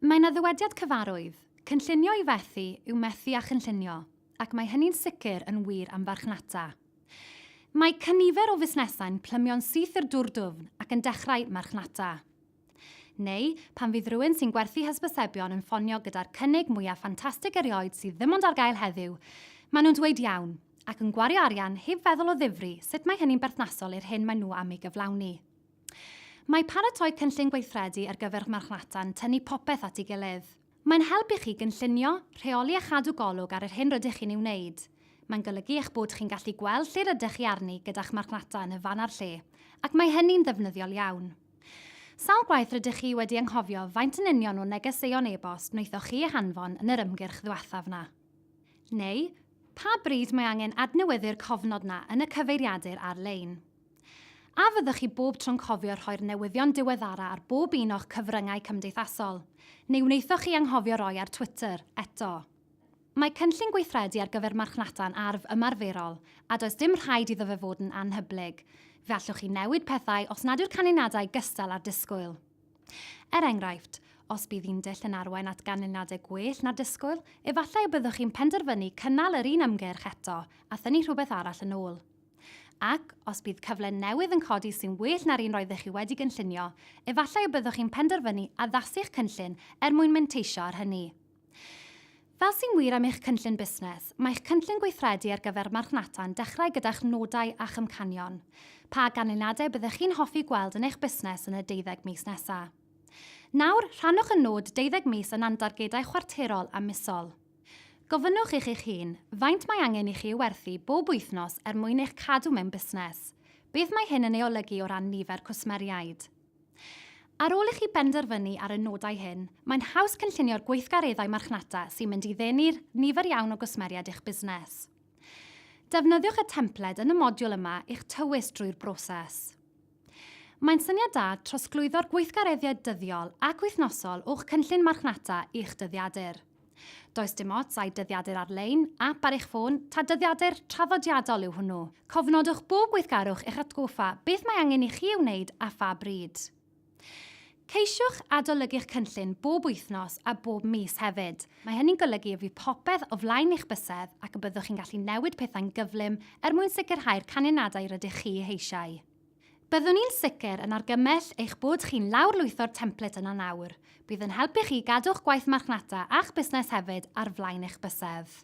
Mae yna ddywediad cyfarwydd, 'Cynllunio i fethu yw methu â chynllunio', ac mae hynny'n sicr yn wir am farchnata. Mae cynifer o fusnesau'n plymio'n syth i'r dŵr dwfn ac yn dechrau marchnata. Neu, pan fydd rhywun sy'n gwerthu hysbysebion yn ffonio gyda'r cynnig mwyaf ffantastig erioed sydd ddim ond ar gael heddiw, maen nhw'n dweud 'iawn', ac yn gwario arian heb feddwl o ddifri sut mae hynny'n berthnasol i'r hyn maen nhw am ei gyflawni. Mae paratoi cynllun gweithredu ar gyfer marchnata'n tynnu popeth at ei gilydd. Mae'n helpu chi gynllunio, rheoli a chadw golwg ar yr hyn rydych chi'n ei wneud. Mae'n golygu eich bod chi'n gallu gweld lle rydych chi arni gyda'ch marchnata yn y fan a'r lle, ac mae hynny'n ddefnyddiol iawn. Sawl gwaith rydych chi wedi anghofio faint yn union o negeseuon e-bost wnaethoch chi eu hanfon yn yr ymgyrch ddiwethaf 'na? Neu, pa bryd mae angen adnewyddu'r cofnod 'na yn y cyfeiriadur ar-lein? A fyddwch chi bob tro'n cofio rhoi'r newyddion diweddara ar bob un o'ch cyfryngau cymdeithasol? Neu wnaethoch chi anghofio roi ar Twitter, eto? Mae cynllun gweithredu ar gyfer marchnata'n arf ymarferol, a does dim rhaid iddo fe fod yn anhyblyg. Fe allwch chi newid pethau os nad yw'r canlyniadau gystal â'r disgwyl. Er enghraifft, os bydd un dull yn arwain at ganlyniadau gwell na'r disgwyl, efallai y byddwch chi'n penderfynu cynnal yr un ymgyrch eto a thynnu rhywbeth arall yn ôl. Ac, os bydd cyfle newydd yn codi sy'n well na'r un roeddech chi wedi gynllunio, efallai y byddwch chi'n penderfynu addasu'ch cynllun er mwyn menteisio ar hynny. Fel sy'n wir am eich cynllun busnes, mae'ch cynllun gweithredu ar gyfer marchnata'n dechrau gyda'ch nodau a'ch amcanion, pa ganlyniadau byddech chi'n hoffi gweld yn eich busnes yn y deuddeg mis nesaf. Nawr, rhannwch y nod deuddeg mis yn andargedau chwarterol a misol. Gofynnwch i chi'ch hun faint mae angen i chi ei werthu bob wythnos er mwyn eich cadw mewn busnes. Beth mae hyn yn ei olygu o ran nifer cwsmeriaid? Ar ôl i chi benderfynu ar y nodau hyn, mae'n haws cynllunio'r gweithgareddau marchnata sy'n mynd i ddenu'r nifer iawn o gwsmeriaid i'ch busnes. Defnyddiwch y templed yn y modiwl yma i'ch tywys drwy'r broses. Mae'n syniad da trosglwyddo'r gweithgareddiad dyddiol ac wythnosol o'ch cynllun marchnata i'ch dyddiadur. Does dim ots ai dyddiadur ar-lein, ap ar eich ffôn, ta dyddiadur traddodiadol yw hwnnw, cofnodwch bob gweithgarwch i'ch atgoffa beth mae angen i chi ei wneud a pha bryd. Ceisiwch adolygu'ch cynllun bob wythnos a bob mis hefyd. Mae hynny'n golygu y bydd popeth o flaen eich bysedd ac y byddwch chi'n gallu newid pethau'n gyflym er mwyn sicrhau'r canlyniadau rydych chi eu heisiau. Byddwn ni'n sicr yn argymell eich bod chi'n lawrlwytho'r template yna nawr. Bydd yn helpu chi gadw'ch gwaith marchnata a'ch busnes hefyd ar flaen eich bysedd.